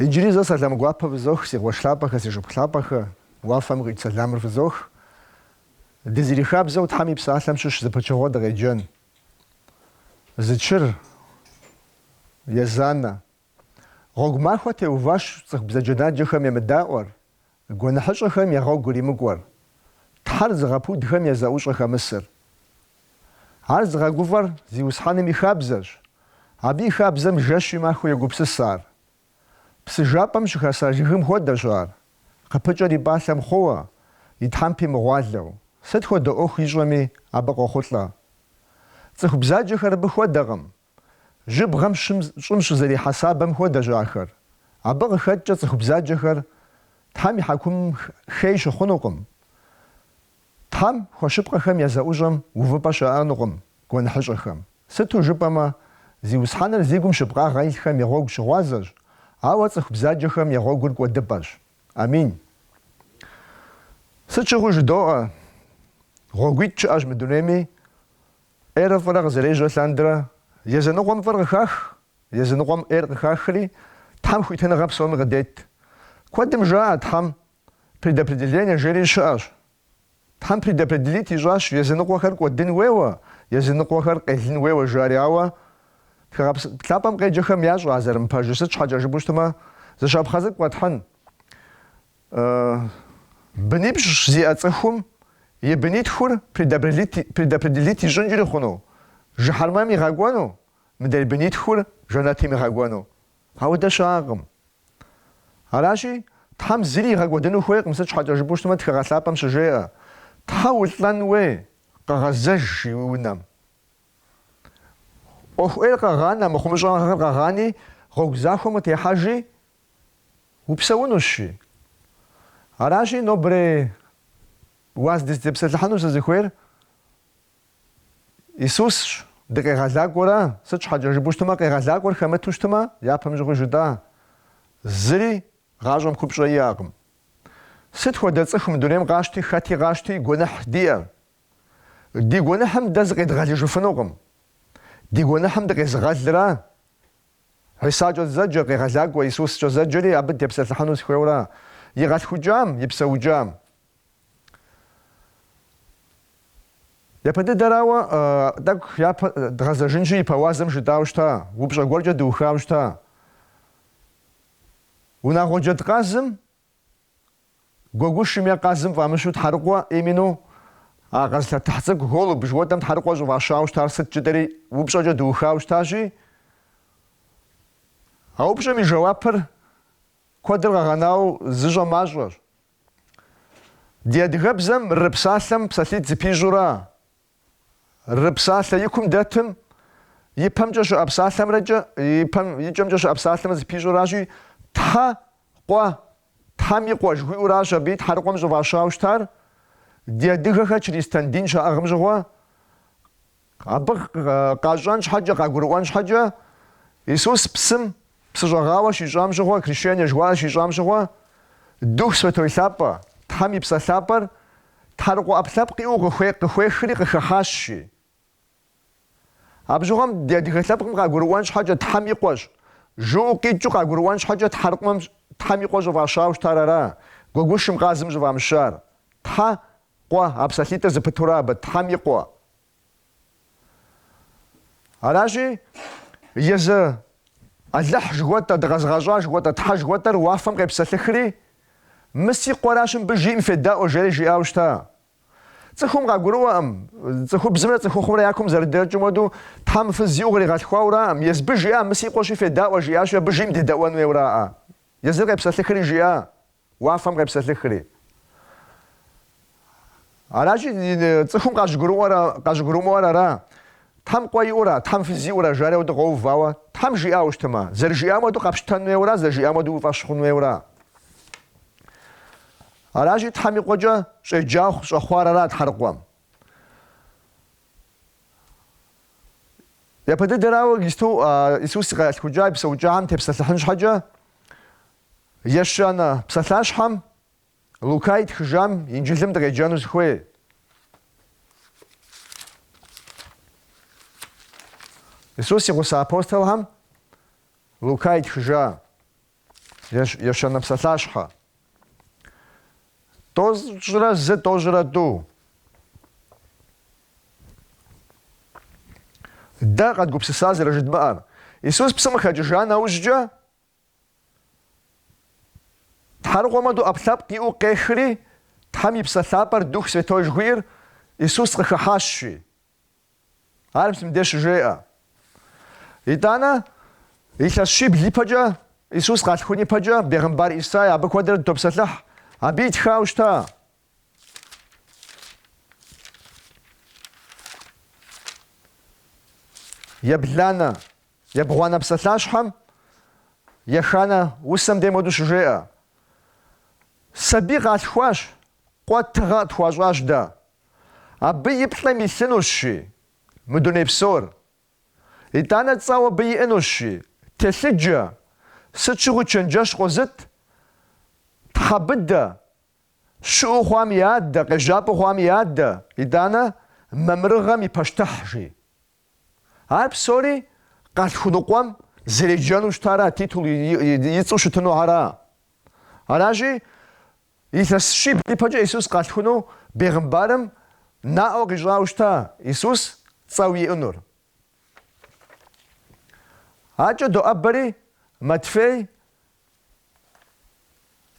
Иджыри зэ сэлам гуапэ фызох, си къуэш лъапӏэхэ, си шыпхъу лъапӏэхэ, уафэм къикӏ сэламыр фызох. Дызэрихабзэу Тхьэм и псалъэм щыщ зы пычыгъуэ дыкъеджэн. Зэчыр езанэ. Гъуэгу махуэ теуващ цӏыху бзаджэнаджэхэм емыдаӏуэр, Гуэныхьыщӏэхэм я гъуэгу иримыкӏуэр, Тхьэр зыгъэпудхэм я зэӏущӏэ хэмысыр. Ар зыгъэгуфӏэр Зиусхьэным и хабзэщ, абы и хабзэм жэщи махуи йогупсыс ар. Псы жапӏэм щыхэса жыгым хуэдэщ ар, къыпыкӏэр и пӏалъэм хъууэ, и тхьэмпи мыгъуалэу, сыт хуэдэ ӏуэху ищӏэми, абы къохъулӏэ. Цӏыху бзаджэхэр абы хуэдэкъым, Жьыбгъэм щым, щӏым щызэрихьэ сабэм хуэдэщ ахэр. Абы къыхэкӏкӏэ цӏыху бзаджэхэр Тхьэм и хьэкумым хей щыхъунукъым. Тхьэм хуэщыпкъэхэм я зэӏущӏэм увыпӏэ щыӏэнукъым гуэныхьыщӏэхэм. Сыту жыпӏэмэ, Зиусхьэныр зи гум щыпкъагъэ илъхэм я гъуэгу щыгъуазэщ, ауэ цӏыху бзаджэхэм я гъуэгур кӏуэдыпӏэщ. Амин. Сыт щыгъуи жыдоӏэ, гъуэгуитӏ щыӏэщ мы дунейми. ӏейрэ фӏырэ къызэрежьэ лъандэрэ, языныкъуэм фӏыр къыхах, языныкъуэм ӏейр къыхахри, Тхьэм хуитыныгъэ псоми къыдет. Куэдым жаӏэ Тхьэм предопределение жери щыӏэщ. Тхьэм предопределит ищӏащ языныкъуэхэр кӏуэдын хуейуэ, языныкъуэхэр къелын хуейуэ жари ауэ Тхыгъэ Лъапӏэм къеджэхэм ящӏэ а зэрымыпэжыр сыт щхьэкӏэ жыпӏэу щытмэ, зы щапхъэ цӏыкӏу къэтхьын, Бынипщӏ зиӏэ цӏыхум и бынитхур предопределит ищӏынкӏри хъуну, жыхьэрмэм игъэкӏуэну, мыдрей бынитхур жэнэтым игъэкӏуэну. Ауэдэ щыӏэкъым. Аращи, Тхьэм зыри игъэкӏуэдыну хуейкъым, сыт щхьэкӏэ жыпӏэу щытмэ Тхыгъэ Лъапӏэм щыжеӏэ, щхьэ улӏэн хуей, къэгъэзэж уи унэм. ӏуэху ӏейр къэгъанэ, мыхъумыщӏагъэхэр къэгъани, гъуэгу захуэм къытехьэжи, Упсэунущи. Аращи, нобэрей уаз дызытепсэлъыхьыну сызыхуейр Исусщ. Ди къегъэлакӏуэра, сыт щхьэкӏэ жыпӏэу щытмэ, къегъэлакӏуэр хэмыту щытмэ, япэм щыгъуи жытӏа, зыри гъащӏэм купщӏэ иӏэкъым. Сыт хуэдэ цӏыху мы дунейм къащти, хэти къащти, гуэныхь диӏэ. Ди гуэныхьым дэ зыкъедгъэлыжыфынукъым. Ди гуэныхьым дыкъезыгъэлыра Хьисакӏэ зэджэ, къегъэлакӏуэ, Исускӏэ зэджэри абы дытепсэлъыхьыну сыхуейуэра. И къалъхукӏам, и псэукӏам. Япэ дыдэрауэ, тӏэкӏу япэ дгъэзэжынщи, ипэ уазым жытӏауэ щыта, упщӏэ гуэркӏэ дыухауэ щыта. Унагъуэ джэдкъазым Гуэгушым е къазым фӏамыщу тхьэрыкъуэ именно а къэзылъэтыхь цӏыкӏу голубь жыхуэтӏэм тхьэрыкъуэ щӏыфӏащауэ щытар сыт жытӏэри упщӏэкӏэ дыухауэ щытащи, а упщӏэм и жэуапыр куэдыр къэгъэнауэ зыщӏэ мащӏэщ. Ди адыгэбзэм ры псалъэм псалъитӏ зыпищӏура. Ры псалъэ икум дэтым и пэмкӏэ щыӏэ псалъэмрэкӏэ, и пэм и кӏэмкӏэ щыӏэ псалъэмрэ зыпищӏуращи, Тхьэ, къуэ, Тхьэм и къуэ жыхуиӏуращ абы и тхьэрыкъуэм щӏыфӏащауэ щытар, ди адыгэхэр чыристан дин щаӏыгъым щыгъуэ, абы къащӏэн щхьэкӏэ, къагурыӏуэн щхьэкӏэ, Исус псым Псыщӏэгъауэ щищӏам щыгъуэ, крещение жыхуаӏэ щищӏам щыгъуэ, Дух Святой лъапӏэ, Тхьэм и Псэ лъапӏэр, тхьэрыкъуэ ӏэпкълъэпкъ иӏэу къы, къыхуехри къыхыхьащ, жи. Абы щыгъуэм ди адыгэ лъэпкъым къагурыӏуэн щхьэкӏэ Тхьэм и къуэщ, жыӏэу къикӏыу къагурыӏуэн щхьэкӏэ тхьэрыкъуэм Тхьэм и къуэ щӏыфӏащауэ щытар ара, гуэгушым къазым щӏыфӏамыщар. Тхьэ, къуэ, а псалъитӏыр зыпытура абы, Тхьэм и къуэ. Аращи, езы Алыхь жыхуэтӏэ, дыкъэзыгъэщӏа жыхуэтӏэ, Тхьэ жыхуэтӏэр уафэм къепсэлъыхри, Мы си къуэращ мыбы жиӏэм федаӏуэ, жери жиӏауэ щыта. Цӏыхум къагурыӏуэӏым, цӏыхубзымрэ цӏыхухъумрэ я кум зэрыдэкӏым хуэдэу, Тхьэм фыз зиӏэу къригъэлъхуауэраӏым, Езыбы жиӏа, Мы си къуэщи федаӏуэ, жиӏащи, абы жиӏэм дедэӏуэн хуейуэраӏэ. Езыр къепсэлъыхри жиӏа. Уафэм къепсэлъыхри. Аращи, цӏыхум къащӏыгурымыӏуэр ара. Тхьэм къуэ иӏура, Тхьэм фыз иӏура, жари ауэду къоувауэ, Тхьэм жиӏауэ щытымэ, зэрыжиӏам хуэдэу къэпщтэн хуейуэра, зэрыжиӏам хуэдэу уи фӏэщ хъун хуейуэра. Аращи, Тхьэм и къуэкӏэ щӏеджахъу щӏэхъуар ара Тхьэрыкъуэм? Япэ дыдэрауэ Христу, Исус и къэлъхукӏа и псэукӏахэм тепсэлъыхьын щхьэкӏэ, Ещанэ псалъащхьэм Лука итхыжам Инджылым дыкъеджэну сыхуей. Исус и гъуса апостолхэм Лука итхыжа Ещанэ псалъащхьэ. Тӏощӏрэ зы, тӏощӏрэ тӏу. Дэ къэдгупсыса зэрыжыдмыӏэр. Исус псым къыхэкӏыжа нэужькӏэ Тхьэрыкъуэм хуэдэу ӏэпкълъэпкъ иӏэу къехри, Тхьэм и Псэ Лъапӏэр Дух Святой жыхуиӏэр Исус къыхыхьащ, жи. Ар мыбдеж щыжеӏэ. Итӏанэ, илъэс щибл ипэкӏэ Исус къалъхун ипэкӏэ бегъымбар Исай абы куэдрэ дытопсэлъыхь, абы итхауэ щыта Ебланэ, ебгъуанэ псалъащхьэм еханэ усэм дей моду щыжеӏэ. Сабий къалъхуащ, къуэ тыгъэ тхуащӏащ дэ. Абы и плӏэм илъынущ, жи, мы дуней псор. Итӏанэ цӏэу абы иӏэнущ, жи, телъыджэ, сыт щыгъуи чэнджэщ къозыт, тхьэ быдэ, Щыӏэу хъуам и адэ, къежьапӏэу хъуам и адэ, итӏанэ, мамырыгъэм и пащтыхь, жи. Ар псори къалъхуну къуэм зэреджэну щытара, титул и цӏэу щытыну ара. Аращи, илъэс щибл ипэкӏэ Исус къалъхуну бегъымбарым наӏуэ къищӏауэ щыта Исус цӏэу иӏэнур. Адэкӏэ доӏэбэри Матфей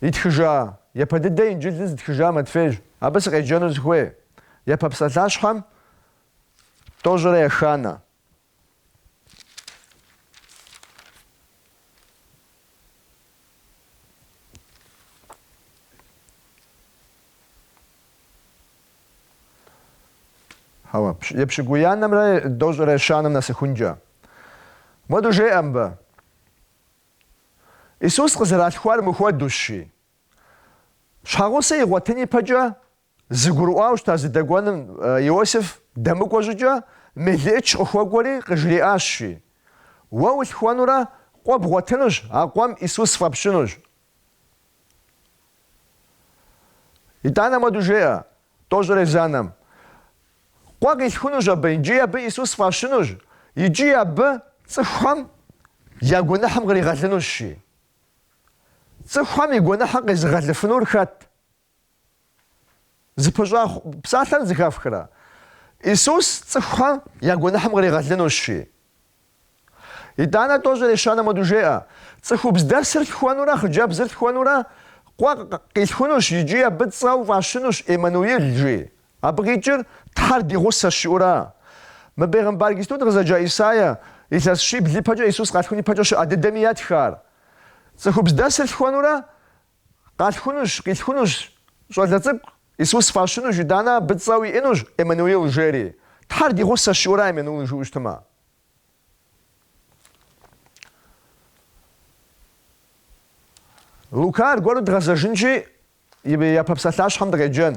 Итхыжа, япэ дыдэ инджылыр зытхыжа Матфейщ. Абы сыкъеджэну сыхуей. Япэ псалъащхьэм тӏощӏрэ еханэ. Епщыкӏуиянэмрэ тӏощӏрэ ещанэм нэсыхункӏэ. Моду жеӏэ мыбы. Исус къызэралъхуар мыхуэдущ, жи, щхьэгъусэ игъуэтын ипэкӏэ зыгурыӏуауэ щыта зыдэкӏуэным Иосиф дэмыкӏуэ щӏыкӏэ мелыӏыч къыхуэкӏуэри къыжриӏащ, жи, Уэ улъхуэнурэ къуэ бгъуэтынущ, а къуэм Исус фӏэпщынущ. Итӏанэ моду жеӏэ, Тӏощӏрэ езанэм. Къуэ къилъхунущ абы, икӏи абы Исус фӏащынущ, икӏи абы цӏыхухэм я гуэныхьым къригъэлынущ, жи. Цӏыхухэм и гуэныхьым къезыгъэлыфынур хэт? Зыпыщӏа псалъэр зыхэфхрэ? Исус цӏыхухэм я гуэныхьым къригъэлынущ, жи. Итӏанэ тӏощӏрэ ещанэм моду жеӏэ, цӏыхубз дэсыр лъхуэнурэ хъыджэбзыр лъхуэнурэ къуэ къилъхунущ икӏи абы цӏэу фӏащынущ Эммануил, жи. Абы къикӏыр Тхьэр ди гъусэщ жиӏэу ара. Мы бегъымбар иджыпсту къызэджа Исаия илъэс щибл ипэкӏэ Исус къалъхун ипэкӏэ щыӏэ дыдэми итхар. Цӏыхубз дэсыр лъхуэнурэ къалъхунущ, къилъхунущ щӏалэ цӏыкӏу Исус фӏащынущ, итӏанэ абы цӏэу иӏэнущ Эммануил жери. Тхьэр ди гъусэщ жиӏэу ара Эммануил жыӏэу щытмэ. Лука аргуэру дгъэзэжынщи, япэ псалъащхьэм дыкъеджэн.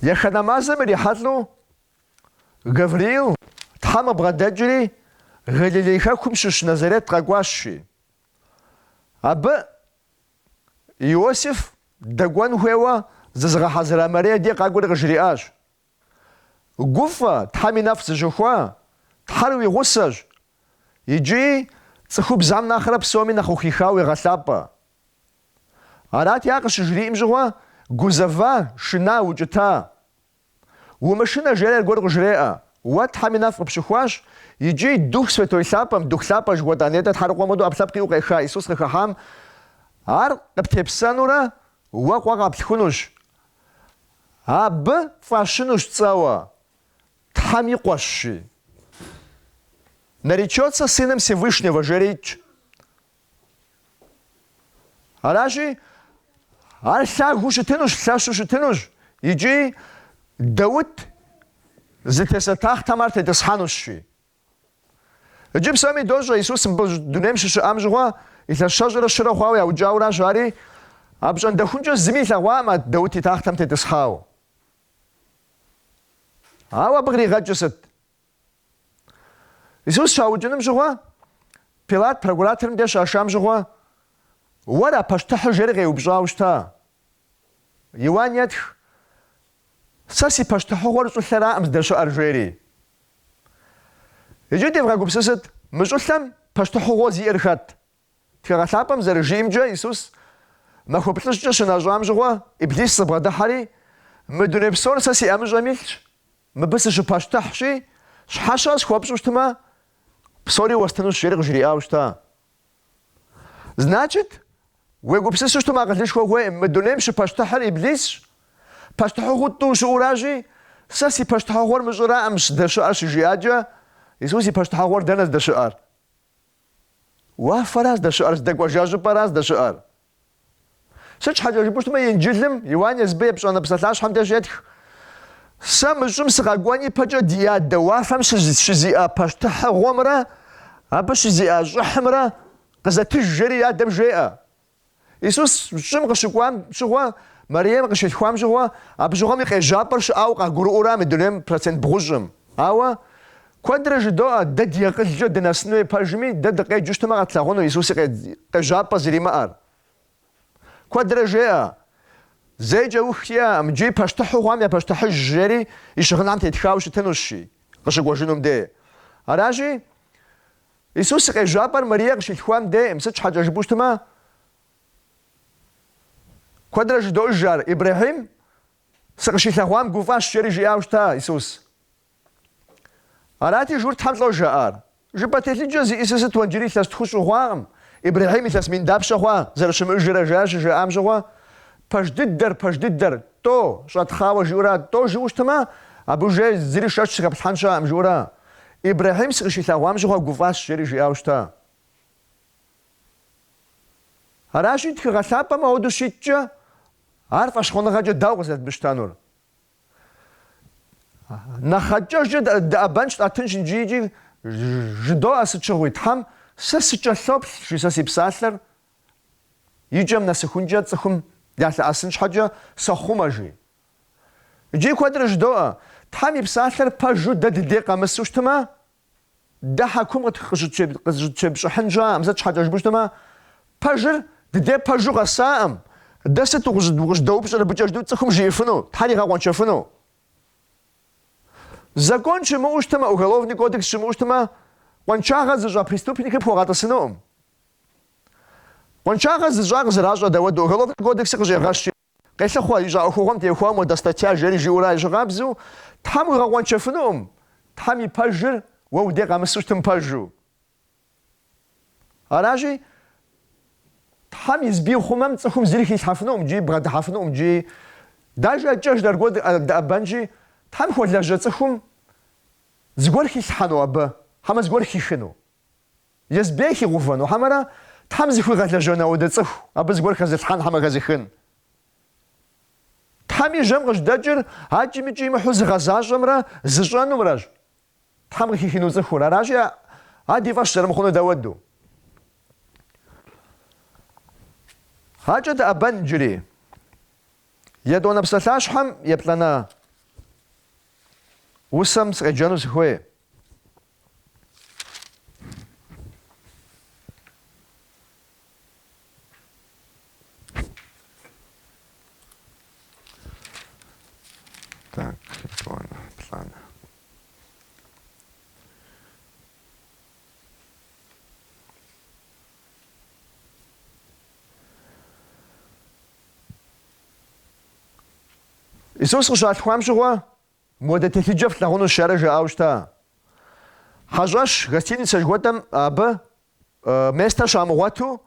Еханэ мазэм ирихьэлӏэу Гавриил Тхьэм къыбгъэдэкӏри, Галилей хэкум щыщ Назарет къэкӏуащ, жи. Абы Иосиф дэкӏуэн хуейуэ зызыгъэхьэзыра Мария ди къакӏуэри къыжриӏащ. Гуфӏэ, Тхьэм и нэфӏ зыщыхуа Тхьэр уи гъусэщ, икӏи цӏыхубзам нэхърэ псоми нэхъ ухихауэ уегъэлъапӏэ. Арати, ар къыщыжриӏэм щыгъуэ гузэва, шына, укӏыта. Умышынэ, жери аргуэр къыжреӏэ. Уэ Тхьэм и нэфӏ къыпщыхуащ, икӏи Дух Святой Лъапӏэм, Дух Лъапӏэ жыхуэтӏа нетӏэ тхьэрыкъуэм хуэдэу ӏэпкълъэпкъ иӏэу къеха Исус къыхыхьам, ар къыптепсэнурэ уэ къуэ къэплъхунущ. Абы фӏащынущ цӏэуэ, Тхьэм и къуэщ, жи. Наречется Сыном Всевышнего, жери итщ. Аращи, ар лъагэу щытынущ, лъэщу щытынущ икӏи Даут зытеса тахътэм ар тетӏысхьэнущ, жи. Иджы псоми дощӏэ, Исус мы дунейм щыщыӏам щыгъуэ илъэс щэщӏрэ щырэ хъуауэ яукӏауэращ, ари апщӏондэхункӏэ зыми илъэгъуакъым а Даут и тахътэм тетӏысхьауэ. Ауэ абы къригъэкӏыр сыт? Исус щаукӏыным щыгъуэ, Пилат прокураторым деж щашам щыгъуэ, Уэра пащтыхьыр жери къеупщӏауэ щыта? Иуан етх, Сэ си пащтыхьыгъуэр щӏылъэракъым здэщыӏэр, жери. Иджы девгъэгупсысыт, мы щӏылъэм пащтыхьыгъуэ зиӏэр хэт? Тхыгъэ лъапӏэм зэрыжиӏэмкӏэ, Исус махуэ плӏыщӏкӏэ щынэщӏам щыгъуэ Иблисыр бгъэдыхьэри, Мы дуней псор сэ си ӏэмыщӏэм илъщ, мыбы сыщыпащтыхьщи, щхьэщэ схуэпщӏу щытмэ, псори уэстынущ, жери къыжриӏауэ щыта. Значит, уегупсысу щытмэ акъылышхуэ хуейкъым, мы дунейм щыпащтыхьыр Иблисщ, пащтыхьыгъуу тӏу щыӏуращи, сэ си пащтыхьыгъуэр мы щӏыраӏымщ, здэщыӏэр щыжиӏакӏэ, Исус и пащтыхьыгъуэр дэнэ здэщыӏэр? Уафэра здэщыӏэр, здэкӏуэжа щӏыпӏэра здэщыӏэр? Сыт щхьэкӏэ жыпӏэу щытмэ, Инджылым Иуан езыбы епщӏанэ псалъащхьэм деж щетх, Сэ мы щӏым сыкъэкӏуэн ипэкӏэ ди адэ уафэм щызиӏэ пащтыхьыгъуэмрэ абы щызиӏэ щӏыхьымрэ къызэтыж, жери адэм жеӏэ. Исус щӏым къыщыкӏуам щыгъуэ, Мэрием къыщилъхуам щыгъуэ, абы щыгъуэм и къежьапӏэр щыӏауэ къагурыӏуэра мы дунейм процент бгъущӏым. Ауэ куэдрэ жыдоӏэ, дэ ди акъылкӏэ дынэсыну и пэжми, дэ дыкъеджэу щытмэ къэтлъагъуну Исуси къежьапӏэ зримыӏэр. Куэдрэ жеӏэ, Зейкӏэ ух иӏэкъым, иджыри пащтыхьу хъуам я пащтыхьыж, жери и щыгъынхэм тетхауэ щытынущи, къыщыкӏуэжынум де. Аращи, Исус и къежьапӏэр Марие къыщилъхуам дейкъым, сыт щхьэкӏэ жыпӏэу щытмэ, куэдрэ жыдоӏэж ар, Ибрэхьим, сыкъыщилъэгъуам гуфӏащ, жери жиӏауэ щыта Исус. Арати, журтхэм лӏо жаӏар. Жыпӏэ телъыджэ зиӏысыр сыт, уэ иджыри илъэс тхущӏ ухъуакъым, Ибрэхьим илъэс мин дапщэ хъуа, зэрыщымыӏэжрэ жаӏэр щыжаӏам щыгъуэ, Пэж дыдэр, Пэж дыдэр, тӏо, щӏэтхъауэ жиӏура, тӏо жиӏэу щытмэ, абы уже зыри шэч зыхэплъхьэн щыӏэкъым жиӏура. Ибрэхьим сыкъыщилъэгъуам щыгъуэ гуфӏащ, жери жиӏауэ щыта. Аращи, тхыгъэ лъапӏэм ауэдэу щиткӏэ, ар фӏэщхъуныгъэкӏэ дауэ къызэрыдмыщтэнур? Нэхъ акӏэжкӏэ дэӏэбэнщ, тӏэтынщ иджы икӏи жыдоӏэ сыт щыгъуи, Тхьэм сэ сыкӏэлъоплъ, жи сэ си псалъэр и кӏэм нэсыхункӏэ цӏыхум ялъэӏэсын щхьэкӏэ сохъумэ, жи. Иджы куэдрэ жыдоӏэ, Тхьэм и Псалъэр пэжу дэ дыдей къэмысу щытмэ, дэ хьэкум къызыщыттепщӏыхьын щыӏэӏым, сыт щхьэкӏэ жыпӏэу щытмэ, пэжыр дыдей пэжу къэсаӏым, дэ сыт укъыщӏыдэупщӏыр абыкӏэ жыдэу цӏыхум жиӏэфыну, Тхьэр игъэкъуэншэфыну? Закон щымыӏэу щытмэ, уголовный кодекс щымыӏэу щытмэ, къуаншагъэ зыщӏа преступникыр пхуэгъэтӏысынукъым. Къуаншагъэ зыщӏа къызэращӏэ дауэду, уголовный кодексыр къыщӏегъэщи. Къелъыхъуэ, ищӏа ӏуэхугъуэм техуэ моуэдэ статья жери жиӏэурэ ещхьыркъабзэу, Тхьэм уигъэкъуэншэфынукъым, Тхьэм и пэжыр уэ удей къэмысу щытым пэжу. Аращи, Тхьэм езбы ихъумэм цӏыхум зыри хилъхьэфынукъым икӏи бгъэдыхьэфынукъым икӏи дажэ акӏэж аргуэру дэӏэбэнщи, Тхьэм хуэлэжьэ цӏыхум зыгуэр хилъхьэну абы, хьэмэ зыгуэр хихыну. Езбы хигъэувэну хьэмэрэ Тхьэм зыхуигъэлэжьэну ауэдэ цӏыху, абы зыгуэр хэзылъхьэн хьэмэ хэзыхын? Тхьэм и жьэм къыжьэдэкӏыр акӏи-мыкӏи имыхьу зыгъэзащӏэмрэ зыщӏэнумрэщ, Тхьэм къыхихыну цӏыхур, аращи, а ди фӏэщ зэрымыхъуну дауэду? Акӏэ дэӏэбэн иджыри. Етӏуанэ псалъащхьэм еплӏанэ усэм сыкъеджэну сыхуей. Так, план, план. Иисус къыщалъхуам щыгъуэ Моуэдэ телъыджэ флъагъунущ, жари жаӏауэ щыта. Хьэщӏэщ гостиницэ жыхуэтӏэм абы местэ щамыгъуэту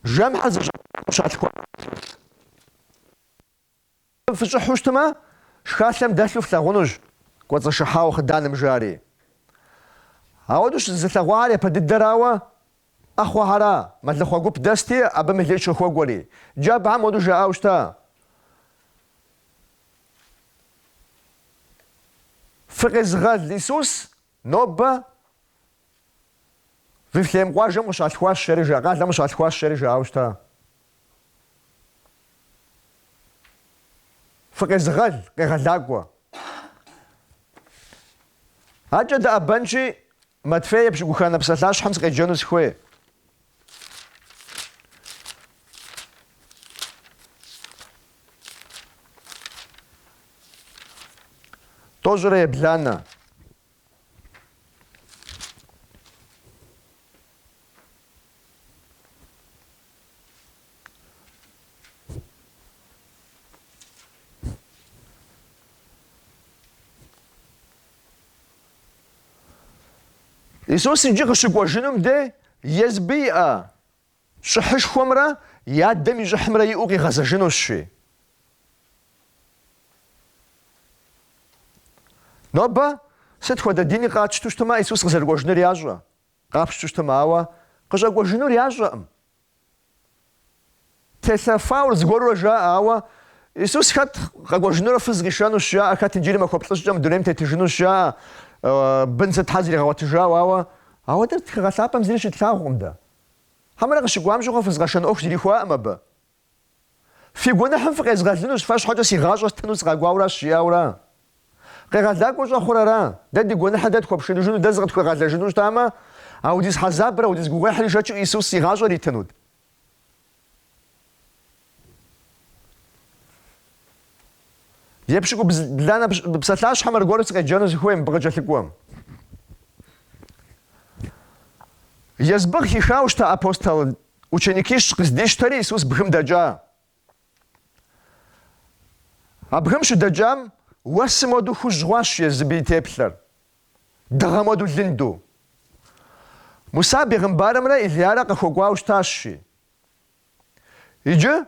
жэмхьэ зыщӏэкӏуам щалъхуа щӏэлъ. Абы фыщӏыхьу щытмэ, шхалъэм дэлъу флъагъунущ, кӏуэцӏышыхьауэ хъыданым жари. Ауэдэу щызылъэгъуахэр япэ дыдэрауэ Ӏэхъуэхьэра, мэлыхъуэ гуп дэсти, абы мелыӏыч хуэкӏуэри. Иджы абыхьэм ауэдэу жаӏауэ щыта: Фыкъезыгъэл, Исус нобэ Вифлеем къуажэм къыщалъхуащ, жари, къалэм къыщалъхуащ, жари жаӏауэ щыта. Фыкъезыгъэл, къегъэлакӏуэ. Адэкӏэ дыӏэбэнщи, Матфей епщыкӏуханэ псалъащхьэм сыкъеджэну сыхуей. Тӏощӏрэ ебланэ. Исус иджы къыщыкӏуэжынум дей езыбы иӏэ щӏыхьышхуэмрэ и адэм и щӏыхьымрэ иӏэу къигъэзэжынущ, жи. Нобэ сыт хуэдэ дини къатщту щытмэ, Исус къызэрыкӏуэжынур ящӏэ, къапщту щытмэ, ауэ къыщӏэкӏуэжынур ящӏэкъым, Телъэфауэ зыгуэрурэ жаӏэ, ауэ Исус хэт къэкӏуэжынурэ фыз къишэнущ жаӏэ, хэт иджыри махуэ плӏыщӏкӏэ мы дунейм тетыжынущ жаӏэ, бын сытхьэ зригъэгъуэтыжауэ, ауэ ауэ дэ тхыгъэ лъапӏэм зыри щытлъагъукъым дэ. Хьэмэрэ къыщыкӏуам щыгъуэ фыз къэшэн ӏуэху зрихуаӏым абы. Фи гуэныхьым фыкъезгъэлынущ, фэ щхьэкӏэ си гъащӏэ стыну сыкъэкӏуауэращ, жиӏауэра. Къегъэлакӏуэ щӏэхъур ара. Дэ ди гуэныхьыр дэ тхуэпшыныжыну, дэ зыкъытхуегъэлэжыну щытамэ, аудиз хьэзабрэ, аудиз гугъуехьри шэчу Иисус и гъащӏэр итынут? Епщыкӏу бланэ псалъащхьэм аргуэру сыкъеджэну сыхуей мыбы къыкӏэлъыкӏуэм. Езыбы къыхихауэ щыта апостол Ученикищ къыздищтэри Исус бгым дэкӏа. А бгым щыдэкӏам уэсым уэду хужь хъуащ езыбы и теплъэр, дыгъэм уэду лынду. Муса бегъымбарымрэ Илиярэ къыхуэкӏуауэ щытащи. Иджы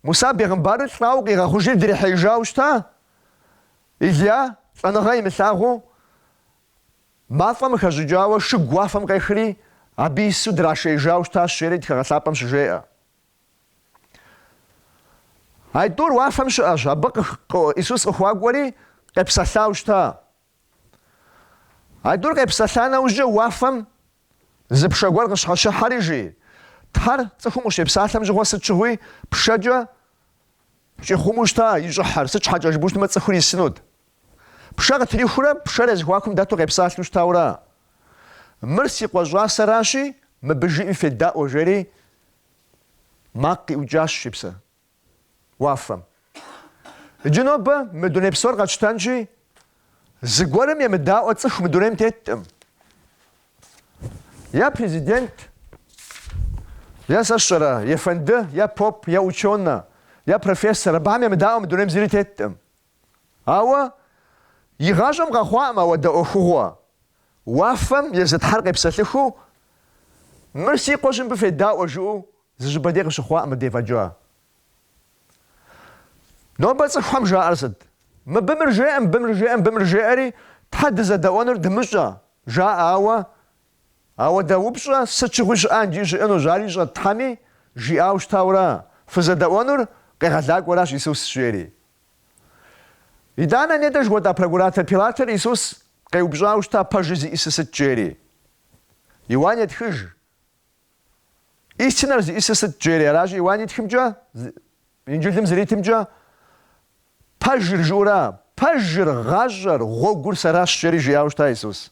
Муса бегъымбарыр лӏауэ къигъэхъужри дрихьеижауэ щыта, Илия лӏэныгъэ имылъагъуу Мафӏэм хэщӏыкӏауэ шыгу уафэм къехри, абы ису драшеижауэ щытащ жери тхыгъэ лъапӏэм щыжеӏэ. Айтӏур уафэм щыӏэщ, абы Исус къыхуакӏуэри къепсэлъау щыта. Айтӏур къепсэлъа нэужькӏэ уафэм зы пшэ гуэр къыщхьэщыхьэри жи, Тхьэр цӏыхум къыщепсалъэм щыгъуэ сыт щыгъуи пшэкӏэ щӏихъуму щыта и щӏыхьыр, сыт щхьэкӏэ жыпӏэу щытмэ цӏыхур исынут. Пшэ къытрихурэ пшэр я зэхуакум дэту къепсалъэу щытаурэ, Мыр си къуэ щӏасэращи, мыбы жиӏэм федаӏуэ, жери макъ къиӏукӏащ си псэ уафэм. Иджы нобэ мы дуней псор къэтщтэнщи, зыгуэрым емыдаӏуэ цӏыху мы дунейм теткъым. Е президент, е сэ сщӏэрэ, ефэнды, е поп, е ученэ, е профессор, абыхэм емыдаӏуэ мы дунейм зыри теткъым. Ауэ и гъащӏэм къэхъуакъым ауэдэ ӏуэхугъуэ. Уафэм езы тхьэр къепсэлъыхыу, Мыр си къуэщ мыбы федаӏуэ, жыӏэу зы щӏыпӏэ дей къыщыхъуакъым мыбдей фӏэкӏа. Нобэ цӏыхухэм жаӏэр сыт? Мыбы мыр жеӏэ, мыбы мыр жеӏэ, мыбы мыр жеӏэри, Тхьэ дызэдэӏуэнур дымыщӏэ, жаӏэ, ауэ Ауэдэ упщӏэ сыт щыгъуи щыӏа иджы щыӏэнущ, ар ищӏэт Тхьэми жиӏауэ щытауэра, фызэдэӏуэнур къегъэлакӏуэращ Исус жери. Итӏанэ нетӏэ жыхуэтӏа прокуратор Пилатыр Исус къеупщӏауэ щыта пэжыр зиӏисыр сыт жери. Иуан етхыж, Истинэр зиӏисыр сыт жери, аращи Иуан итхымкӏэ, Инджылым зэритымкӏэ, Пэжыр жыӏэура, пэжыр, гъащӏэр, гъуэгур сэращ жери жиӏауэ щыта Исус.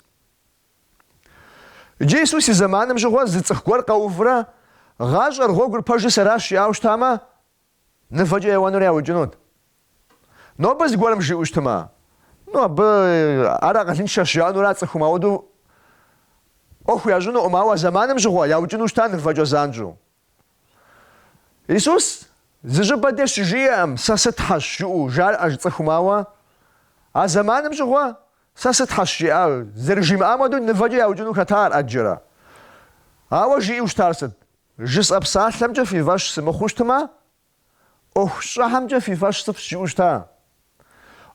Иджы Исус и зэманым щыгъуэ зы цӏыху гуэр къэувурэ, гъащӏэр гъуэгур пэжыр сэращ жиӏауэ щытамэ, нывэкӏэ еуэнур яукӏынут. Нобэ зыгуэрым жиӏэу щытымэ, ну абы ар акъылыншэщ жаӏэнура цӏыхум, ауэдэу ӏуэху ящӏынукъым, ауэ зэманым щыгъуэ яукӏыну щыта нывэкӏэ занщӏэу. Исус зы щӏыпӏэ де щыжиӏэкъым, Сэ сыт хьэщ? жыӏэу жарӏэж цӏыхум, ауэ а зэманым щыгъуэ Сэ сытхьэщ жиӏауэ зэрыжимыӏам хуэдэу нывэкӏэ яукӏыну хэта ар ӏэджэрэ. Ауэ жиӏэу щытар сыт? Жысӏэ псалъэмкӏэ фи фӏэщ сымыхъуу щытмэ, ӏуэху щӏахьэмкӏэ фи фӏэщ сыфщӏ жиӏэу щыта?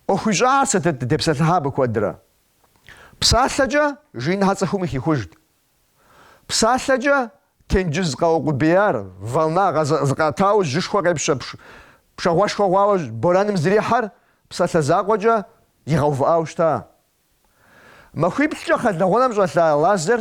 ӏуэху ищӏахьэр сытыт дытепсэлъыхьа абы куэдрэ? Псалъэкӏэ жиныхьэ цӏыхум къыхихужт. Псалъэкӏэ тенджыз къэукъубеяр, волна зыкъиӏэтауэ жьышхуэ къепщэ пшагъуэшхуэ хъуауэ борэным зэрихьэр псалъэ закъуэкӏэ игъэувыӏауэ щыта? Махуиплӏкӏэ кхъэлэгъунэм щӏэлъа Лазер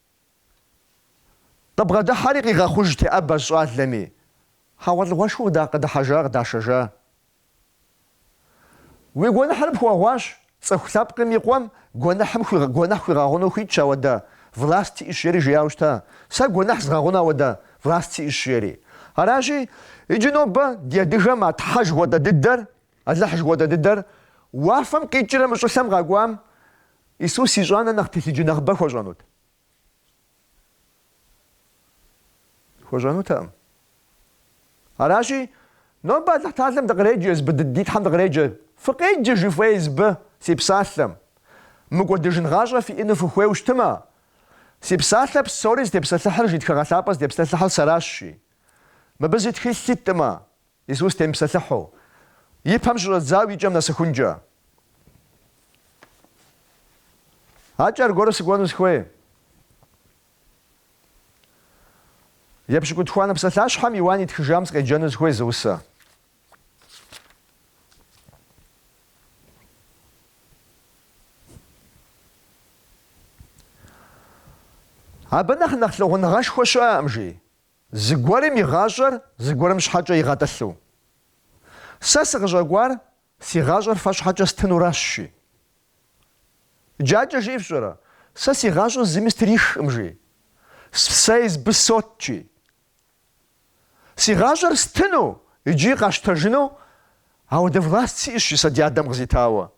Къыбгъэдыхьэри къигъэхъуж теӏэбэщ щӏалэми. Хьэгъуэлӏыгъуэшхуэ къыда къыдыхьэжа къыдашэжа. Уи гуэныхьыр пхуэгъуащ, цӏыху лъэпкъым и къуэм гуэныхьым хуигъ, гуэныхь хуигъэгъуну хуитщ ауэдэ, власт сиӏыщ жери жиӏауэ щыта, сэ гуэныхь згъэгъуну ауэдэ власт сиӏыщ жери. Аращи, иджы нобэ ди адыгэм а Тхьэ жыхуэтӏэ дыдэр, Алыхь жыхуэтӏэ дыдэр, уафэм къикӏрэ мы щӏылъэм къэкӏуам, Исус ищӏанэ нэхъ телъыджэ нэхъыбэ хуэщӏэнут? Хуэщӏэнутэкъым. Аращи, нобэ Алыхьталэм дыкъреджэ, езбы дыд ди Тхьэм дыкъреджэ, Фыкъеджэ жи, фэ езбы си псалъэм. Мыкӏуэдыжын гъащӏэ фиӏэну фыхуейу щытмэ, Си псалъэ псори зытепсэлъыхьыр жи тхыгъэ лъапӏэ зытепсэлъыхьыр сэращ, жи. Мыбы зы тхылъ иткъым, Исус темыпсэлъыхьу, и пэм щыщӏэдзауэ и кӏэм нэсыхункӏэ. Акӏэ аргуэру сыкӏуэну сыхуей. Епщыкӏутхуанэ псалъащхьэм Иуан итхыжам сыкъеджэну сыхуей зы усэ. Абы нэхъ нэхъ лъагъуныгъэшхуэ щыӏэкъым, жи. Зыгуэрым и гъащӏэр зыгуэрым щхьэкӏэ игъэтӏылъу. Сэ сыкъыщӏэкӏуар си гъащӏэр фэ щхьэкӏэ стынуращ, жи. Иджы акӏэ жиӏэр фщӏэрэ, сэ си гъащӏэр зыми стрихкъым, жи. Сэ езбы сот, жи. Си гъащӏэр стыну икӏи къасщтэжыну ауэдэ власт сиӏэщ, жи сэ ди адэм къызитауэ.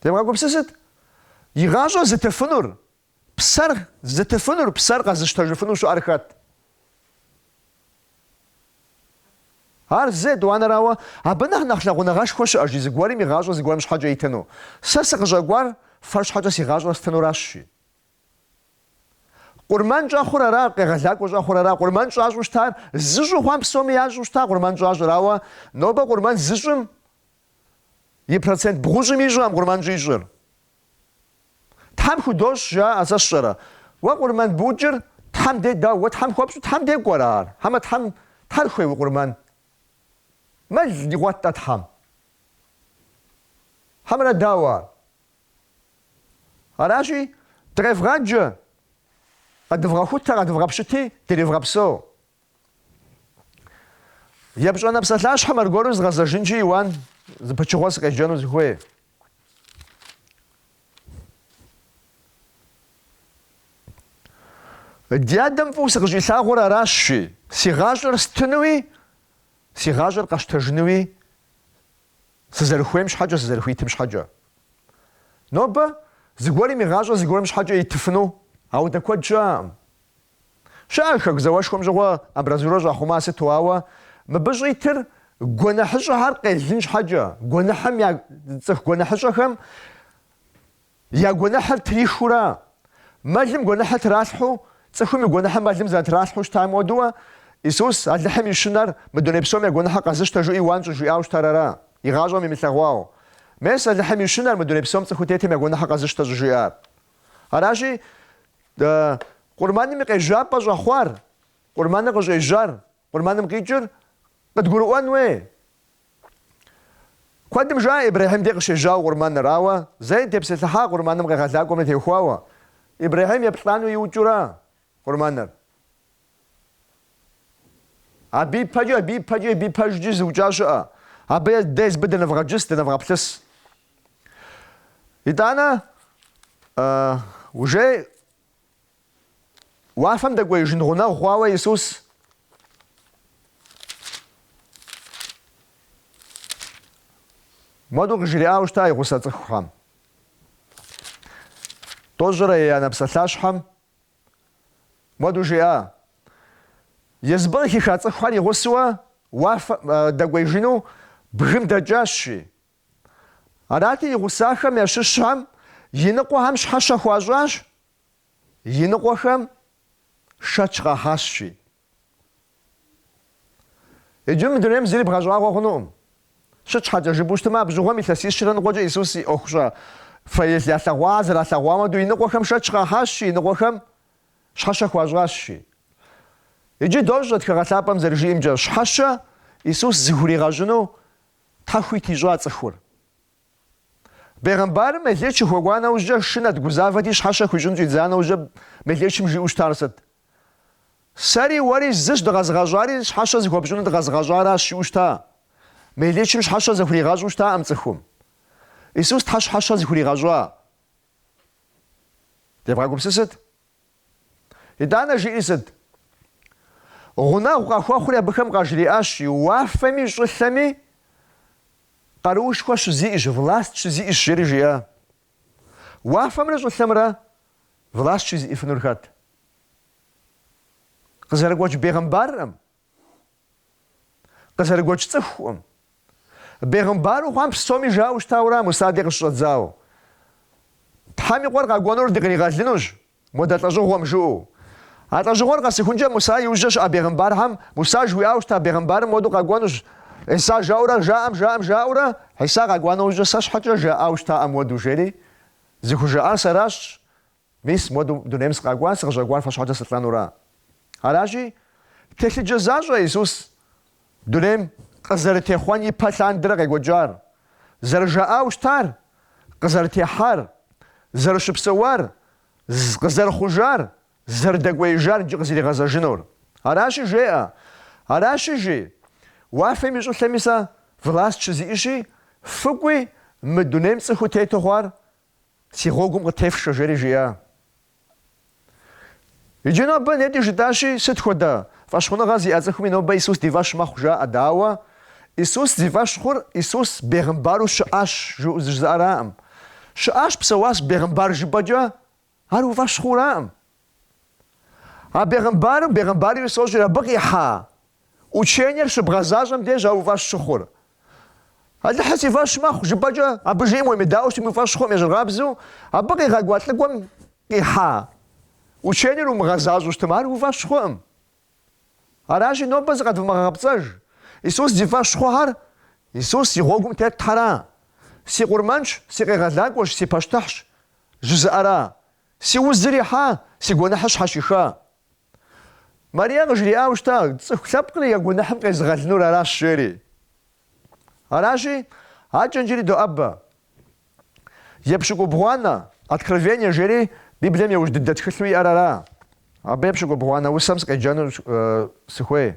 Девгъэгупсысыт, и гъащӏэр зытыфынур Псэр зытыфынур, псэр къэзыщтэжыфыну щыӏэр хэт? Ар зы, етӏуанэрауэ, абы нэхъ нэхъ лъагъуныгъэшхуэ щыӏэ, жи, зыгуэрым и гъащӏэр зыгуэрым щхьэкӏэ итыну. Сэ сыкъыщӏэкӏуар фэ щхьэкӏэ си гъащӏэр стынуращ, жи. Къурмэн щӏэхъур ара, къегъэлакӏуэ щӏэхъур ара? Къурмэн щӏащӏу щытар зыщӏу хъуам псоми ящӏэу щыта къурмэн щӏащӏыр, ауэ нобэ къурмэн зыщӏым И процент бгъущӏым ищӏэкъым къурмэн щӏищӏыр. Тхьэм худощӏ, жаӏэ, сэ сщӏэрэ? Уэ къурмэн букӏыр Тхьэм дей дауэ? Уэ Тхьэм хуэпщӏу Тхьэм дей кӏуэрэ ар? Хьэмэ Тхьэм, Тхьэр хуей уи къурмэн? Мэл игъуэт-тӏэ Тхьэм? Хьэмэрэ дауэ ар? Аращи, дыкъевгъаджэ, къэдывгъэхутэ, къэдывгъэпщыти, дривгъэпсэу. Епщӏэнэ псалъащхьэм аргуэру згъэзэжынщи, Иуан, зы пычыгъуэ сыкъеджэну сыхуей. Ди адэм фӏыуэ сыкъыщӏилъагъур аращ, жи, си гъащӏэр стынуи, си гъащӏэр къэщтэжынуи сызэрыхуейм щхьэкӏэ, сызэрыхуитым щхьэкӏэ. Нобэ зыгуэрым и гъащӏэр зыгуэрым щхьэкӏэ итыфыну ауэдэ куэд щыӏэкъым. Щыӏэ хэку зауэшхуэм щыгъуэ амбразурэ щӏахъума сыту, ауэ мыбы щӏитыр гуэныхьыщӏэхэр къелын щхьэкӏэ, гуэныхьым я, цӏыху гуэныхьыщӏэхэм я гуэныхьыр трихыурэ, мэлым гуэныхьыр тралъхьу, цӏыхум и гуэныхьыр мэлым зэрытралъхьу щытам хуэдэуэ, Исус, Алыхьым и щынэр, мы дуней псом я гуэныхьыр къэзыщтэ жиӏэу Иуан щӏыжиӏауэ щытар ара, и гъащӏэм имылъэгъуауэ, Мес, Алыхьым и щынэр, мы дуней псом цӏыху тетым я гуэныхьыр къэзыщтэ щӏыжиӏар. Аращи, Дэ къурмэным и къежьапӏэ щӏэхъуар, къурмэныр къыщӏежьар, къурмэным къикӏыр къыдгурыӏуэн хуей. Куэдым жаӏэ Ибрэхьим де къыщежьауэ къурмэныр, ауэ зэи тепсэлъыхьа къурмэным къегъэлакӏуэмэ теухуауэ. Ибрэхьим еплӏану иукӏыу ара къурмэныр? Абы ипэкӏи, абы ипэкӏи, абы ипэжкӏи зыукӏа щыӏэ. Абы де езыбы дынывгъэджыс, дынывгъэплъыс. Итӏанэ, уже уафэм дэкӏуеижын гъунэгъу хъуауэ Иисус муэду къыжриӏауэ щыта и гъусэ цӏыхухэм. Тӏощӏрэ еянэ псалъащхьэм Муэду жиӏа, езыбы къыхиха цӏыхухэр и гъусэуэ уафэм дэкӏуеижыну бгым дэкӏащи. Арати, и гъусахэм ящыщхэм и ныкъуэхэм щхьэщэ хуащӏащ, и ныкъуэхэм шэч къахьащи. Иджы мы дунейм зыри бгъэщӏагъуэ хъунукъым. Сыт щхьэкӏэ жыпӏэу щытмэ, абы щыгъуэм илъэсищрэ ныкъуэкӏэ Исус и ӏуэхущӏафэр ялъэгъуа, зэралъэгъуа муэду и ныкъуэхэм шэч къахьащи, и ныкъуэхэм щхьэщэ хуащӏащи. Иджы дощӏэ Тхыгъэ Лъапӏэм зэрыжиӏэмкӏэ, щхьэщэ Исус зыхуригъэщӏыну Тхьэ хуит ищӏа цӏыхур. Бегъымбарым мелеч къыхуэкӏуа нэужькӏэ, шынэт, гузавэти, щхьэщэ хуищӏын щӏидза нэужькӏэ мелечым жиӏэу щытар сыт? Сэри уэри зыщ дыкъэзыгъэщӏари, щхьэщэ зыхуэпщӏынур дыкъэзыгъэщӏаращ, жиӏэу щыта. Мелычым щхьэщэ зыхуригъэщӏу щытакъым цӏыхум. Исус Тхьэ щхьэщэ зыхуригъэщӏа? Девгъэгупсысыт. Итӏанэ жиӏи сыт? Гъунэгъу къахуэхъури абыхэм къажриӏащ, уафэми щӏылъэми къаруушхуэ щызиӏэщ, власт щызиӏэщ, жери жиӏа. Уафэмрэ щӏылъэмрэ власть щызиӏэфынур хэт? Къызэрыгуэкӏ бегъымбархэм? Къызэрыгуэкӏ цӏыхухэм? Бегъымбару хъуам псоми жауэ щытауэ ара Муса ди къыщыщӏэдзауэ? Тхьэм и къуэр къэкӏуэнур дыкъригъэлынущ, Модэ лӏэщӏыгъуэм жыӏэу. А лӏэщӏыгъуэр къэсыхункӏэ Муса и ужьэ щыӏэ бегъымбархэм Муса жыуиӏауэ щыта бегъымбарым модэу къэкӏуэнущ. Хьиса жаӏэурэ жаӏэм, жаӏэм жаӏэурэ, Хьиса къэкӏуа нэужькӏэ сэ щхьэкӏэ жаӏауэ щытаӏым модэу жери, зыхужаӏар сэращ, мис модэу дунейм сыкъэкӏуа, сыкъыщӏэкӏуар фэ щхьэкӏэ сылӏэнура. Аращи, телъыджэ защӏэ Исус. Дунейм къызэрытехъуэн и пэ лъандэрэ къекӏуэкӏар, зэрыжаӏауэ щытар, къызэрытехьар, зэрыщыпсэуар, къызэрыхъужар, зэрыдэкӏуеижар иджы къызэригъэзэжынур. Аращи, жеӏэ, Аращи, жи, уафэми щӏылъэми сэ власт щызиӏэщи, фыкӏуи, мы дунейм цӏыхуу тету хъуар Си гъуэгум къытефшэ, жери жиӏа. Иджы нобэ нетӏи жытӏащи, сыт хуэдэ фӏэщхъуныгъэ зиӏэ цӏыхуми нобэ Исус ди фӏэщ мэхъу жаӏэ, да, ауэ Исус зи фӏэщ хъур Исус бегъымбару щыӏащ жызыӏэраӏым. Щыӏащ, псэуащ бегъымбар жыпӏэкӏэ, ар уи фӏэщ хъураӏым. А бегъымбарым, бегъымбар Исус жери абы къихьа Учениер щыбгъэзащӏэм дежа уи фӏэщ щыхъур. Алыхьыр си фӏэщ мэхъу жыпӏэкӏэ абы жиӏэм уемыдаӏуэу щытым уи фӏэщ хъуӏым ещӏыркъабзэу абы къигъэкӏуа лӏыкӏуэм къихьа учениер умыгъэзащӏэу щытым ар уи фӏэщ хъуӏым. Аращи, нобэ зыкъэдвмыгъэгъэпцӏэж, Исус зи фӏэщ хъухэр Исус и гъуэгум тетхэра? Си къурмэнщ, си къегъэлакӏуэщ, си пащтыхьщ жызыӏэра? Си узыр ихьа, си гуэныхьыр щхьэщиха? Марие къыжриӏауэ щыта, цӏыху лъэпкъыр я гуэныхьым къезыгъэлынур аращ, жери. Аращи, адэкӏэ иджыри доӏэбэ. Епщыкӏубгъуанэ, Откровение, жери Библием иужь дыдэ тхылъу иӏэр ара? Абы епщыкӏубгъуанэ усэм сыкъеджэну сыхуей.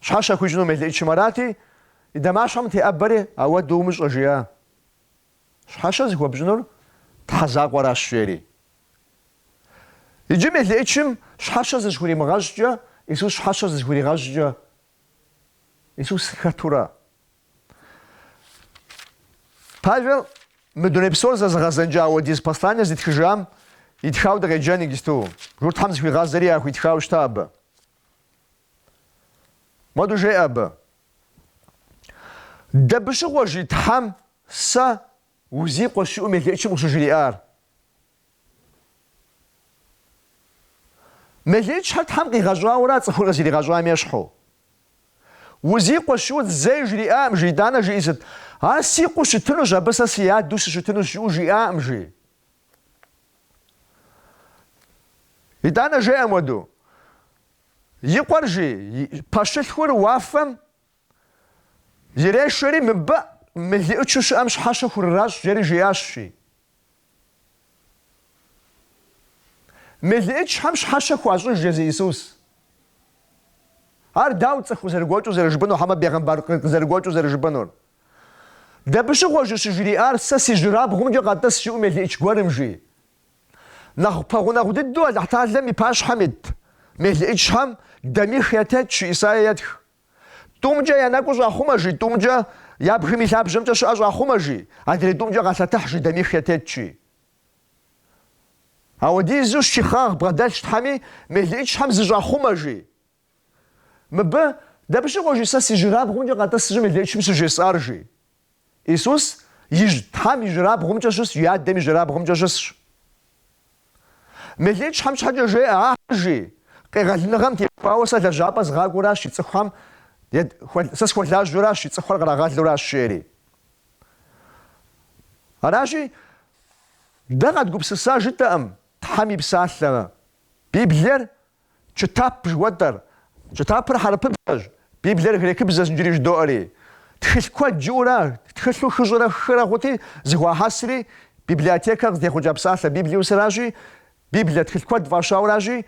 Щхьэщэ хуищӏыну мелыӏычым арати, и дамащхьэм теӏэбэри ауэдэ умыщӏэ жиӏа. Щхьэщэ зыхуэпщӏынур Тхьэ закъуэращ, жери. Иджы мелыӏычым щхьэщэ зыщыхуримыгъэщӏкӏэ, Исус щхьэщэ зыщыхуригъэщӏкӏэ, Исус хэтура? Павел мы дуней псор зэзыгъэзэнкӏэ ауэдиз послание зытхыжам итхауэ дыкъеджэн иджысту. Журтхэм зыхуигъазэри яхуитхауэ щыта абы. Моду жеӏэ абы. Дэбыщыгъуэ жи Тхьэм сэ узи къуэщ жиӏу мелыӏычым къыщыжриӏар? Мелыӏычхьэр Тхьэм къигъэщӏауэра цӏыхур къызиригъэщӏам ещхьу? Узи къуэщ жиӏу зэи жриӏаӏым жи, итӏанэ жиӏи сыт? Ар си къуэу щытынущ, абы сэ си адэу сыщытынущ жиӏэу жиӏаӏым жи. Итӏанэ жеӏэ моду, и къуэр жи, пэщылъхур уафэм ирешэри, мыбы мелыӏычу щыӏэм щхьэщэ хурыращӏ, жери жиӏащ, жи. Мелыӏычхьэм щхьэщэ хуащӏыж, жи езы Иисус. Ар дауэ цӏыху къызэрыгуэкӏыу зэрыжыпӏэнур, хьэмэ бегъымбар къызэрыгуэкӏыу зэрыжыпӏэнур? Дэбыщыгъуэ жи щыжриӏар сэ си жьырабгъумкӏэ къэтӏыс жиӏу мелыӏыч гуэрым жи. Нэхъ пэгъунэгъу дыдэу Алыхьталэм и пащхьэм ит мелыӏычхьэм дамих ятетщ жи Исае етх. Тӏумкӏэ я нэкӏу щӏахъумэ жи, тӏумкӏэ я бгым и лъабжьэмкӏэ щыӏэ щӏахъумэ жи, адрей тӏумкӏэ къалъэтыхь жи, дамих ятетщ жи. Ауэдизу щихъагъ бгъэдэлъщ Тхьэми, мелыӏычхьэм зыщӏахъумэ жи. Мыбы, дапщыгъуэ жи сэ си жьырабгъумкӏэ къэтӏыс жиӏу мелыӏычым щыжесӏар, жи. Исус иджы Тхьэм и жьырабгъумкӏэ щысщ и Адэм и жьырабгъумкӏэ щысщ. Мелыӏычхьэм щхьэкӏэ жеӏэ ахьэр, жи, къегъэлыныгъэм теухуауэ сэ лэжьапӏэ згъакӏуэращ и цӏыхухэм, сэ схуэлажьэращ и цӏыхухэр кърагъэлуращ, жери. Аращи, дэ къэдгупсыса жытӏэӏым Тхьэм и псалъэмэ. Библиер Чытап жыхуэтӏэр. Чытапыр хьэрыпыбзэщ, Библиер грекыбзэщ иджыри жыдоӏэри. Тхылъ куэд жиӏэура, тхылъу хыщӏрэ хырэ хъути, зыхуахьэсри, библиотекэ къызытехъукӏа псалъэ библиосыращи, Библие тхылъ куэд фӏащауращи,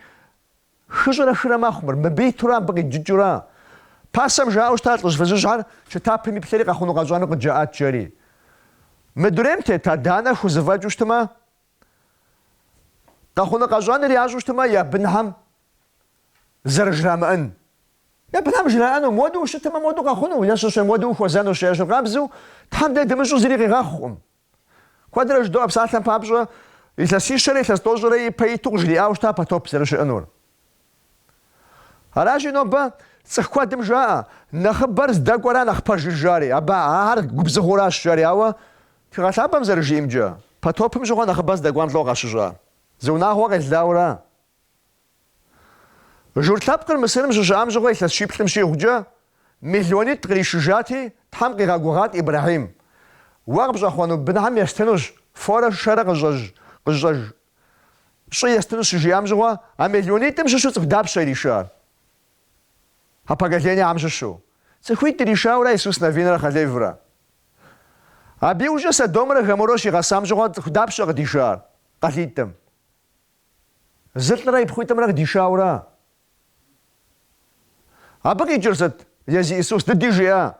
хыщӏрэ хырэ мэхъу мыр, мыбы итурэ абы къиджыкӏыурэ. Пасэм жаӏэу щыта лӏыжь фызыжьхэр, Чытапым иплъэри къэхъуну-къэщӏэну къыджаӏат, жери. Мы дунейм тет адэ-анэ хузэфӏэкӏыу щытмэ, Къэхъуну-къэщӏэнур ящӏу щытмэ, я бынхьэм зэрыжрамыӏэн. Я бынхьэм жраӏэну, модыу ущытмэ, модыу къэхъуну, е щыщэ модыу ухуэзэнущ. Ещхьыркъабзэу, Тхьэм дэ дымыщӏу зыри къигъэхъукъым. Куэдрэ жыдоӏэ псалъэм папщӏэ, Илъэсищэрэ илъэс тӏощӏрэ ипэ иту къыжриӏауэ щыта потоп зэрыщыӏэнур. Аращи, нобэ цӏыху куэдым жаӏэ, нэхъыбэр здэкӏуэра нэхъ пэжыр жари, абы ахэр губзыгъэуращ жари, ауэ Тхыгъэ Лъапӏэм зэрыжиӏэмкӏэ, потопым щыгъуэ нэхъыбэр здэкӏуам лӏо къащыщӏа зы унагъуэ къелауэра? Журт лъэпкъыр Мысырым щыщыӏам щыгъуэ илъэс щиплӏым щӏигъукӏэ, миллионитӏ къришыжати, Тхьэм къигъэгугъат Ибрэхьим, Уэ къыпщӏэхъуэну бынхьэм естынущ форэ шэрэ къыщӏэж, къызщӏэж, щӏы естынущ щыжиӏам щыгъуэ, а миллионитӏым щыщу цӏыху дапщэ иришар? А поколениехэм щыщу цӏыхуитӏ иришаура Исус Навинрэ Халеврэ. Абы иужькӏэ Содомрэ Гоморрэ щигъэсам щыгъуэ цӏыху дапщэ къыдишар къалитӏым? Зы лӏырэ и пхъуитӏымрэ къыдишаура. Абы къикӏыр сыт? Езы Исус дыди жеӏэ,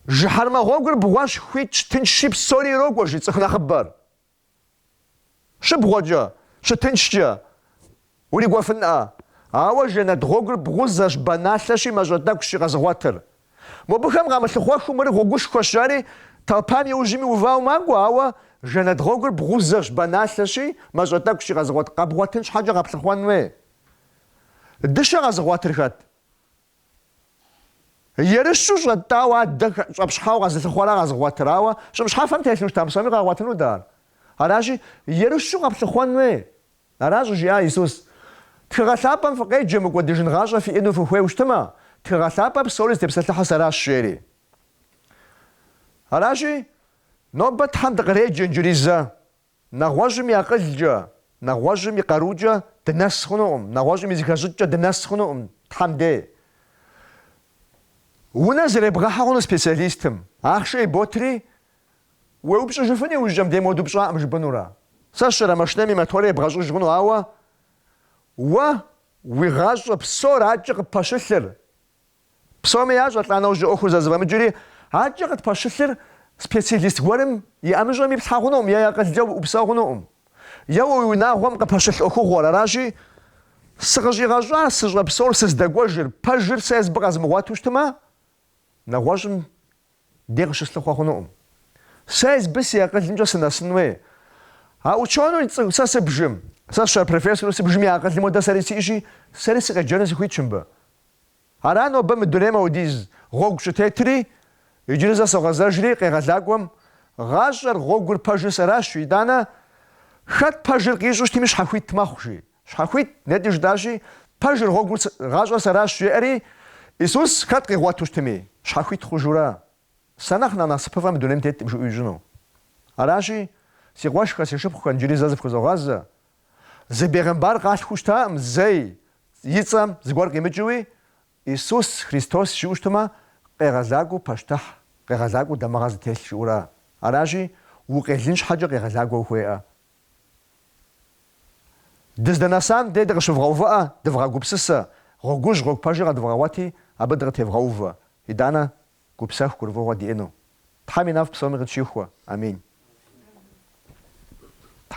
Жыхьэрмэ гъуэгур бгъуэщ хуитщ, тыншщи псори ирокӏуэ, жи цӏыху нэхъыбэр. Щыбгъуэкӏэ, щытыншкӏэ урикӏуэфынӏэ. Ауэ жэнэт гъуэгур бгъузэщ, баналъэщи, мащӏэ тӏэкӏущи къэзыгъуэтыр. Мобыхэм къамылъыхъуэхыу мыр гъуэгушхуэщ, жари толпам иужьми увауэ макӏуэ, ауэ жэнэт гъуэгур бгъузэщ, баналъэщи, мащӏэ тӏэкӏущи къэзыгъуэт, къэбгъуэтын щхьэкӏэ къэплъыхъуэн хуей. Дыщэ къэзыгъуэтыр хэт? Ерыщу щӏэтӏауэ адэ щӏэпщхьауэ къэзылъыхъуэра къэзыгъуэтыр, ауэ щӏым щхьэфэм телъу щытам псоми къагъуэтынут ар. Аращи, ерыщу къэплъыхъуэн хуей. Аращ жиӏа Исус, Тхыгъэ лъапӏэм фыкъеджэ мыкӏуэдыжын гъащӏэ фиӏэну фыхуейу щытмэ, тхыгъэ лъапӏэр псори зытепсэлъыхьыр сэращ, жери. Аращи, нобэ Тхьэм дыкъреджэ иджыри зэ. Нэгъуэщӏым и акъылкӏэ, нэгъуэщӏым и къарукӏэ дынэс хъунукъым, нэгъуэщӏым и зэхэщӏыкӏкӏэ дынэс хъунукъым Тхьэм дей. Унэ зэребгъэхьэ хъуну специалистым, ахъшэ иботри, Уеупщӏыжыфыну иужькӏэм дей моду пщӏакъым жыпӏэнура? Сэ сщӏэрэ машинэм и моторыр ебгъэщӏыж хъуну, ауэ уэ уи гъащӏэ псор аткӏэ къыппэщылъыр? Псоми ящӏэ лӏа нэужь ӏуэхур зэрызэфӏэмыкӏри, аткӏэ къытпэщылъыр специалист гуэрым и ӏэмыщӏэм иплъхьэ хъунукъым и акъылкӏэ упсэу хъунукъым. Е уэ уи унагъуэм къыпэщылъ ӏуэхугъуэр аращи, сыкъыщӏигъэщӏар сыщӏэпсэур сыздэкӏуэжыр, пэжыр сэ езыбы къэзмыгъуэту щытмэ, нэгъуэщӏым дей къыщыслъыхъуэ хъунукъым. Сэ езыбы си акъылымкӏэ сынэсын уей. А учёну сэ сыбжым. Сэ сщӏэрэ профессору сыбжым и акъылым уэдэ сэри сиӏэщи, сэри сыкъеджэну сыхуитщ мыбы. Ара нобэ мы дунейм аудиз гъуэгу щӏытетри, иджыри зэ согъэзэжри къегъэлакӏуэм, гъащӏэр, гъуэгур пэжыр сэращ, итӏанэ, хэт пэжыр къищӏэу щытми щхьэхуит мэхъу, жи. Щхьэхуит нетӏи жытӏащи, пэжыр, гъуэгур, гъащӏэр сэращ, жеӏэри, Исус хэт къигъуэту щытми, щхьэхуит хъужурэ, Сэ нэхъ нэхъ насыпыфӏэ мы дунейм теткъым жиӏэу ищӏыну. Аращи, си къуэшхэр, си шыпхъухэр иджыри зэ зыфхузогъазэ. Зы бегъымбар къалъхуу щытакъым зэи, и цӏэм зыгуэр къимыкӏыуи, Исус Христос жиӏэу щытмэ, къегъэлакӏуэу пащтыхь, къегъэлакӏуэу дамыгъэ зытелъ жиӏэура. Аращи, укъелын щхьэкӏэ къегъэлакӏуэ ухуеӏэ. Дыздэнэсам дей дыкъыщывгъэувыӏэ, дывгъэгупсысэ, гъуэгужь, гъуэгу пэжыр къэдывгъэгъуэти, абы дыкъытевгъэувэ, итӏанэ, гупсэху, гурыфӏыгъуэ диӏэну. Тхьэм и нэфӏ псоми къытщихуэ. Амин.